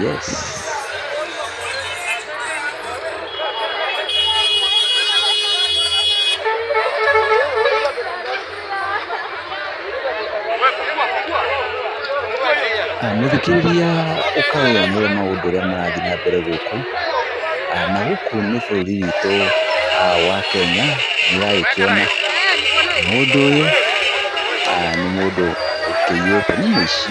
Yes. Ah, Mũthikĩrĩria ũkagĩa nĩ maũndũ ũrĩa marathiĩ na mbere gũkũ. Ah, Na gũkũ nĩ bũrũri witũ ah, wa Kenya nĩũragĩkĩona mũndũ ũyũ ah, nĩ mũndũ ũkĩiyĩte nĩ mũici.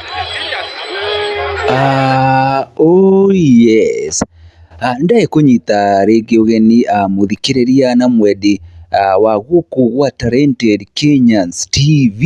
Ah, oh yes. Ah, nĩndĩrĩ kũnyita rĩngĩ ũgeni ah, mũthikĩrĩria na mwendi ah, wa gũkũ gwa Talented Kenyans TV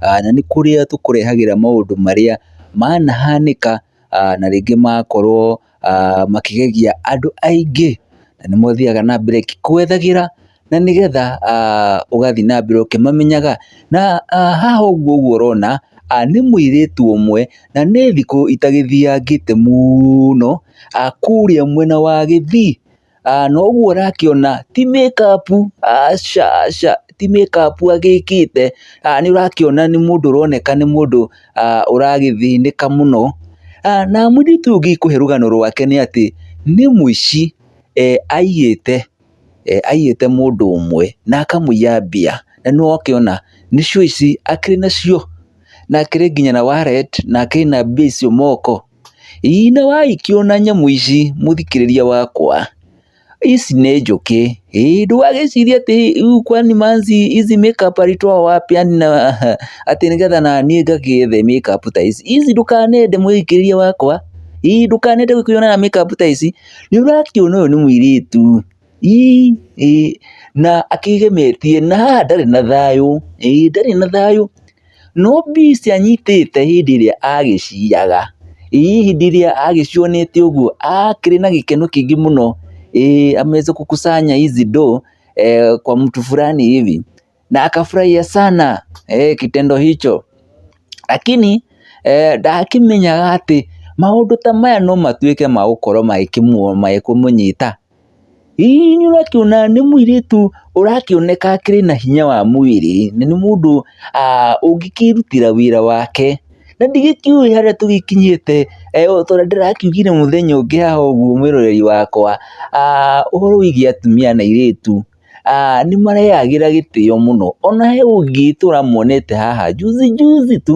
ah, na nĩ kũrĩa tũkũrehagĩra maũndũ marĩa manahanĩka ah, na rĩngĩ makorwo ah, makĩgegia andũ aingĩ na nĩ mothiaga na mbere kwethagĩra na nĩgetha ah, ũgathiĩ na mbere ũkĩmamenyaga na ah, haha ũguo ũguo ũrona ah, nĩ mũirĩtu ũmwe na nĩ thikũ itagĩthiangĩte mũno ah, kũrĩa mwena wa Gĩthii na ũguo ũrakĩona ti makeup aca aca ti makeup agĩkĩte, nĩ ũrakĩona nĩ mũndũ ũroneka nĩ mũndũ ũragĩthĩnĩka mũno, na mũirĩtu ũyũ ũngĩkũhe rũgano rwake nĩ atĩ, nĩ mũici aiyĩte, aiyĩte mũndũ ũmwe na akamũiya mbia, na nĩ ũrakĩona nĩcio ici akĩrĩ nacio, na akĩrĩ nginya na wallet na akĩrĩ na mbia icio moko. Ĩinĩ wa ikio na nyamũ ici mũthikĩrĩria wakwa, ici nĩ njũkĩ, ĩĩ ndũgagĩcirie atĩ rĩu kwani manci ici makeup alitoa wapi yani na atĩ nĩgetha naniĩ ngagĩethe makeup ta ici, ici ndũkanende mũthikĩrĩria wakwa, ĩĩ ndũkanende gũkĩonera makeup ta ici, nĩũrakĩona ũyũ nĩ mũirĩtu. ii, ĩ, na akĩgemetie, na haha ndarĩ na thayũ, ĩ, ndarĩ na thayũ, no mbica anyitĩte hĩndĩ ĩrĩa agĩciaga, ii, hĩndĩ ĩrĩa agĩcionete ũguo, akĩrĩ na gĩkeno kĩingĩ mũno, ĩ, ameweza kukusanya hizi ndoo kwa mtu fulani hivi. na akafurahia sana eh, kitendo hicho lakini eh, ndakimenyaga atĩ maũndũ ta maya no matuĩke ma gũkorwo magĩkũmũnyita hihi nĩ ũrakĩona nĩ mũirĩtu ũrakĩoneka akĩrĩ na hinya wa mwĩrĩ na nĩ mũndũ ah, ũngĩkĩrutĩra wĩra wake na ndigĩkĩũĩ harĩa tũgĩkinyĩte eh, tondũ ndĩrakiugire mũthenya ũngĩ haha ũguo mwĩroreri wakwa ah, ũhoro wĩgiĩ atumia na airĩtu. aah nĩ mareyagĩra gĩtĩo mũno, ona he ũngĩ tũramuonete haha juzi juzi tu,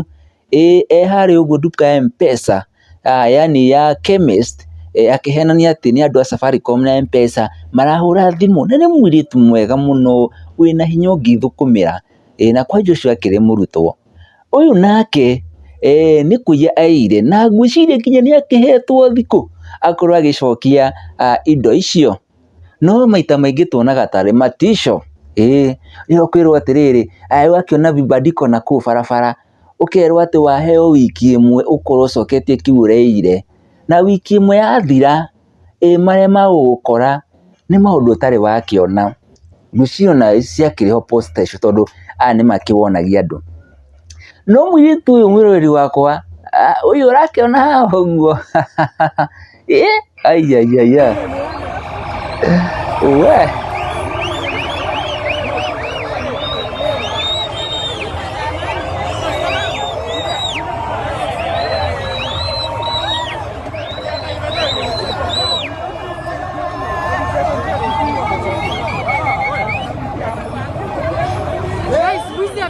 ĩĩ e harĩa ũguo nduka ya M-pesa, yaani ya chemist akĩhenania atĩ nĩ andũ a Safaricom na M-pesa, marahũra thimũ, na nĩ mũirĩtu mwega mũno, wĩna hinya ũngĩthũkũmĩra, ĩĩ na kwanja ũcio akĩrĩ mũrutwo, ũyũ nake eeh nĩ kũiya aiyire, na ngwĩciria nginya nĩ akĩhetwo thikũ, akorwo agĩcokia indo icio. No maita maingĩ tuonaga tarĩ matico, ĩĩ, rĩrĩa ũkwĩrwo atĩrĩrĩ, rĩu wakĩona vibandiko nakũu barabara, ũkerwo atĩ waheo wiki ĩmwe ũkorwo ũcoketie kĩu ũreĩire, na wiki ĩmwe yathira, ĩĩ marĩa magũgũkora, nĩ maũndũ ũtarĩ wakĩona. Mĩsionarĩ ciakĩrĩ ho posta icio tondũ aya nĩ makĩwonagia andũ. No mũirĩtu ũyũ mwĩroreri wakwa, ah, ũyũ ũrakĩona haha ũguo ĩ aiaiaia we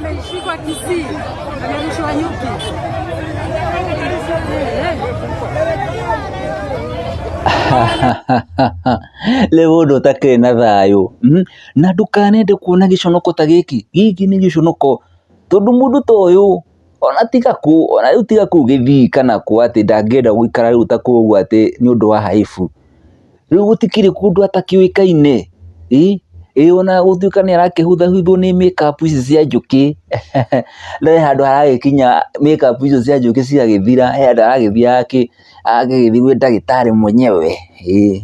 amelishikwa Kisii, amerushiwa nyuki. rĩu ũndũ ũtakĩrĩ na thayũ mhm. na ndũkanende kuona gĩconoko ta gĩkĩ gĩkĩ nĩ gĩconoko tondũ mũndũ ta ũyũ ona tiga kũ, ona rĩu tiga kũu gĩthii kana kũ atĩ ndangĩenda gũikara rĩu ta kũ ũguo atĩ nĩ ũndũ wa haibu. Rĩu gũtikĩrĩ kũndũ atakĩũĩkaine, ĩ, ĩ ona gũtuĩka nĩ arakĩhuthahuthwo nĩ makeup ici cia njũkĩ, no he handũ haragĩkinya makeup icio cia njũkĩ cigagĩthira, he handũ aragĩthiaga kĩ, agagĩthiĩ gwĩ ndagĩtarĩ mwenyewe, ĩ,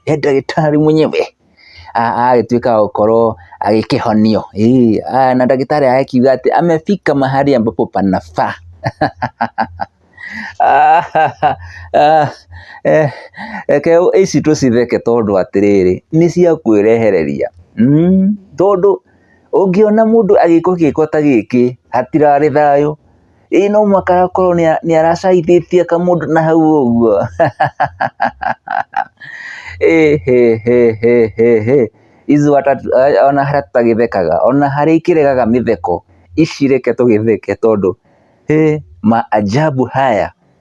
he ndagĩtarĩ mwenyewe. agagĩtuĩka wa gũkorwo agĩkĩhonio, na ndagĩtarĩ agagĩkiuga atĩ amefika mahali ambapo panafaa reke ici tũcitheke tondũ atĩrĩrĩ, nĩ cia kwĩrehereria, tondũ ũngĩona mũndũ agĩkwo gĩko ta gĩkĩ hatirarĩ thayũ. ĩĩ no mũhaka akorwo nĩ aracaithĩtie kamũndũ na hau ũguo ĩhĩhĩhĩhĩ izu ata ona harĩa tũtagĩthekaga ona harĩa ikĩregaga mĩtheko ici reke tũgĩtheke tondũ hĩ maajabu haya.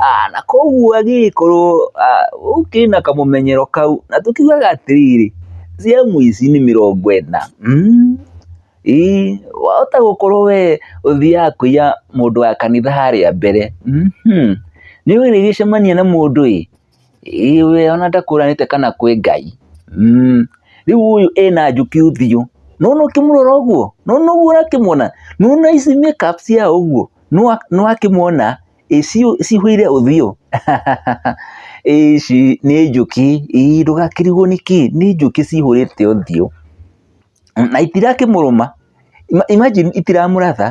Aa, na koguo agĩgĩkorwo gũkĩrĩ na kamũmenyero kau, na tũkiugaga atĩrĩrĩ, ciamu ici nĩ mĩrongo ĩna, mmh, ĩĩ, wahota gũkorwo we ũthiaga kũiya mũndũ wa kanitha harĩa mbere, mmh, nĩ ũrĩgĩcemania na mũndũ ĩ, ĩĩ we ona ndakũranĩte kana kwĩ Ngai, mmh, rĩu ũyũ ena njũkĩ ũthiũ, nĩwona ũkĩmũrora ũguo, nĩwona ũguo ũrakĩmwona, nĩwona ici make up cia ũguo, nĩwakĩmwona, ĩ ciũ- cihũire ũthiũ ici nĩ njũkĩ ii ndũgakĩrigwo nĩkĩ nĩ njũkĩ cihũrĩte ũthiũ na itirakĩmũrũma Ima- imagine itiramũratha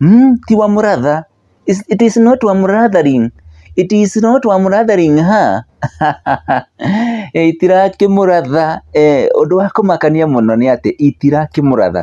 mm, tiwamũratha It's- it is not wamũrathering it is not wamũrathering ha itirakĩmũratha eh, ũndũ wa kũmakania mũno nĩ atĩ itirakĩmũratha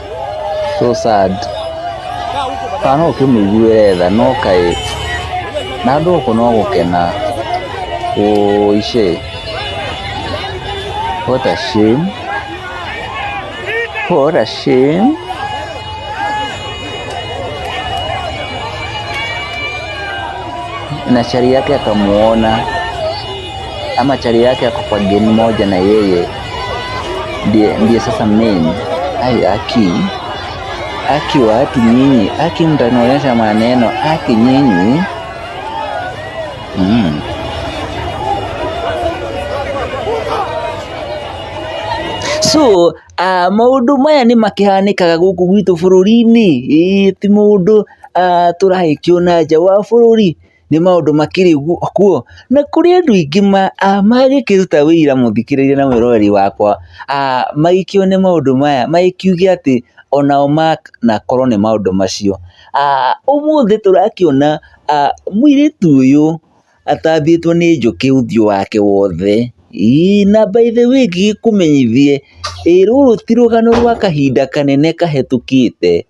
so sad kana no ũkĩmũiguĩre tha no kaĩ na andũ gũkũ no gũkena ũice what a shame what a shame na chari yake akamuona ama chali yake yako kwa game moja na yeye ndiye, ndiye sasa main. Ai, aki aki watu nyinyi, aki mtanionyesha maneno, aki nyinyi mm. so uh, maundu maya nä makihanikaga gũkũ gwitũ bũrũri-inĩ ti mũndũ uh, tũrahĩkio na nja wa bũrũri nĩ maũndũ makĩrĩ kuo, na kũrĩ andũ aingĩ mangĩkĩruta ũira mũthikĩrĩrie na mwĩroreri wakwa, magĩkĩone maũndũ maya magĩkiuge atĩ onao manakorwo nĩ maũndũ macio. Ũmũthĩ tũrakĩona mũirĩtu ũyũ atambĩtwo nĩ njũkĩ ũthiũ wake wothe, ĩĩ na by the way ngĩgĩkũmenyithie, ĩĩ rũrũ ti rũgano rwa kahinda kanene kahĩtũkĩte.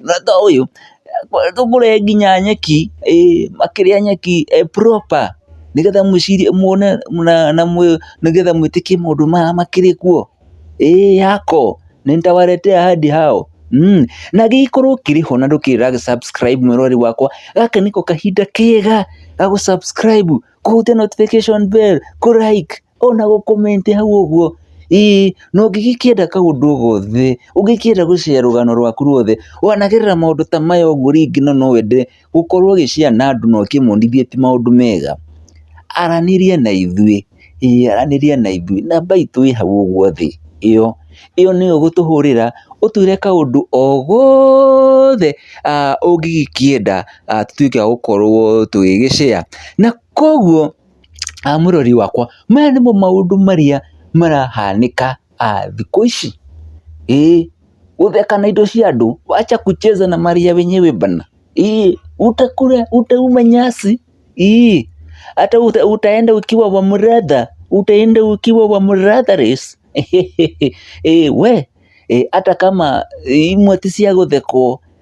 na ta ũyũ akoretwo mũrĩe nginya nyeki, ĩĩ makĩrĩa nyeki proper nĩgetha mũcirie muone na nĩgetha mwĩtĩkie maũndũ maya makĩrĩ kuo, ĩĩ yako, nitawaletea hadi hao, na gĩkorwo kĩrĩ ho na ndũkĩrĩ ũra gĩ subscribe mwĩroreri wakwa, gaka nĩko kahinda kega ga gũ subscribe, kũhutia notification bell, kũ like. ona gũ comment hau ũguo, ĩĩ na ũngĩgĩkĩenda kaũndũ o gothe, ũngĩkĩenda gũ share rũgano rwaku rwothe, wanagerera maũndũ ta maya ũguo rĩngĩ na no wende gũkorwo ũgĩ share na andũ na ũkĩmonie ti maũndũ mega, aranĩria na ithuĩ, ĩĩ aranĩria na ithuĩ, namba itũ ĩ hau ũguo thĩ, ĩyo, ĩyo nĩyo ũgũtũhũrĩra, ũtwĩre kaũndũ o gothe ũngĩgĩkĩenda tũtwĩke a gũkorwo tũgĩgĩ share na koguo. mũrori wakwa, maya nĩmo maũndũ marĩa marahanĩka thikũ ici, ĩĩ gũtheka na indo cia andũ, wacha kucheza na mali ya wenyewe bana, ĩĩ utakula, utauma nyasi, ĩĩ hata utaenda ukiwa wa mratha, utaenda ukiwa wa mratha race, ĩĩ we hata kama imwe ti cia gũthekwo.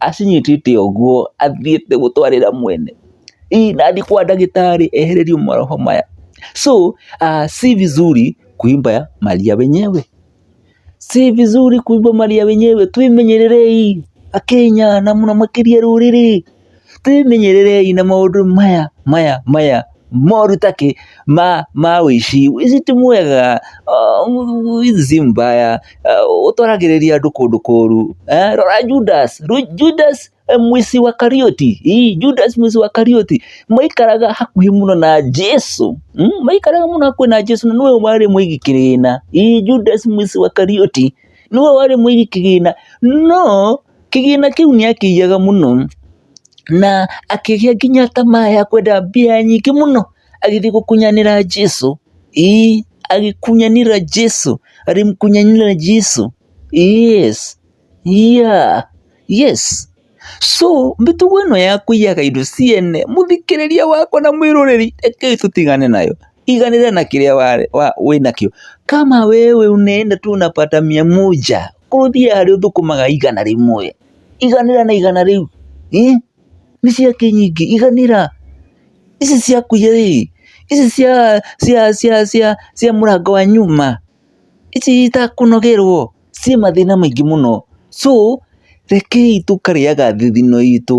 acinyitĩte ũguo athiĩte gũtwarĩra mwene, ii na athiĩ kwa ndagĩtarĩ ehererio maroho maya, so si vizuri kuimba mali ya wenyewe, si vizuri kuimba mali ya wenyewe, twĩmenyererei akenya na mũno makĩria rũrĩrĩ, twĩmenyererei na maũndũ maya maya maya. moru ta kĩ ma ma ũici, ũici ti mwega, ũici si mbaya, ũtwaragĩrĩria andũ kũndũ kũru, rora Judas, Judas mwizi wa Karioti, ĩ Judas mwizi wa Karioti, maikaraga hakuhĩ mũno na Jesu, maikaraga mũno hakuhĩ na Jesu, na nĩwe warĩ mũigi kĩgĩna, ĩ Judas mwizi wa Karioti, nĩwe warĩ mũigi kĩgĩna, no... kĩgĩna kĩu nĩ akĩiyaga mũno, na akĩgĩa nginya tamaa ya kwenda mbia nyingĩ mũno, agĩthiĩ gũkunyanĩra Jesũ, ĩĩ agĩkunyanĩra Jesũ, agĩkunyanĩra Jesũ, yes, yeah, yes, so mĩtugo ĩno ya kũiyaga indo ciene, mũthikĩrĩria wakwa na mwĩroreri rekei tũtigane nayo, tiganĩra na kĩrĩa wĩna kĩo, kama wewe unaenda tu unapata mia moja. Korwo thiĩ harĩ ũthũkũmaga igana rĩmwe, iganĩra na igana rĩu, nĩ cia kĩnyingĩ, iganĩra, ici ciaku ĩ, ici cia cia mũrango wa nyuma, ici itakũnogerwo, ciĩ mathĩna maingĩ mũno, so rekei tũkarĩaga thigino itũ.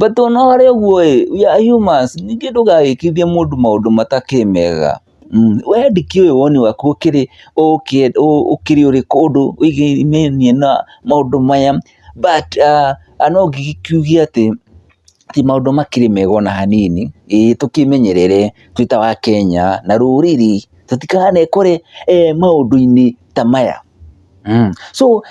But ona harĩ ũguo ĩ, we are humans, ningĩ ndũgagĩkithie mũndũ maũndũ matakĩ mega. We ndĩkĩũĩ woni waku ũkĩrĩ ũkĩrĩ ũrĩ kũndũ wĩgiĩ na maũndũ maya, but no ngĩgĩkiuge atĩ ti maũndũ makĩrĩ mega ona hanini, ĩĩ tũkĩmenyerere twĩ ta Akenya na rũrĩrĩ, tũtikanekore maũndũ-inĩ ta maya. So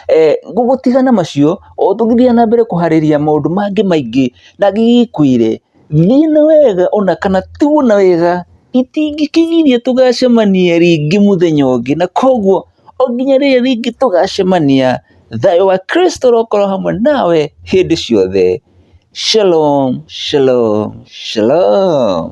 gũgũtiga na macio, o tũgĩthiaga na mbere kũharĩria maũndũ mangĩ maingĩ na ngĩgĩkwĩre, thiĩ na wega ona kana tigwo na wega, itingĩkĩgiria tũgacemania rĩngĩ mũthenya ũngĩ, na koguo o nginya rĩrĩa rĩngĩ tũgacemania. Thayũ wa Kristo ũrokorwo hamwe nawe hĩndĩ ciothe. Shalom, shalom, shalom.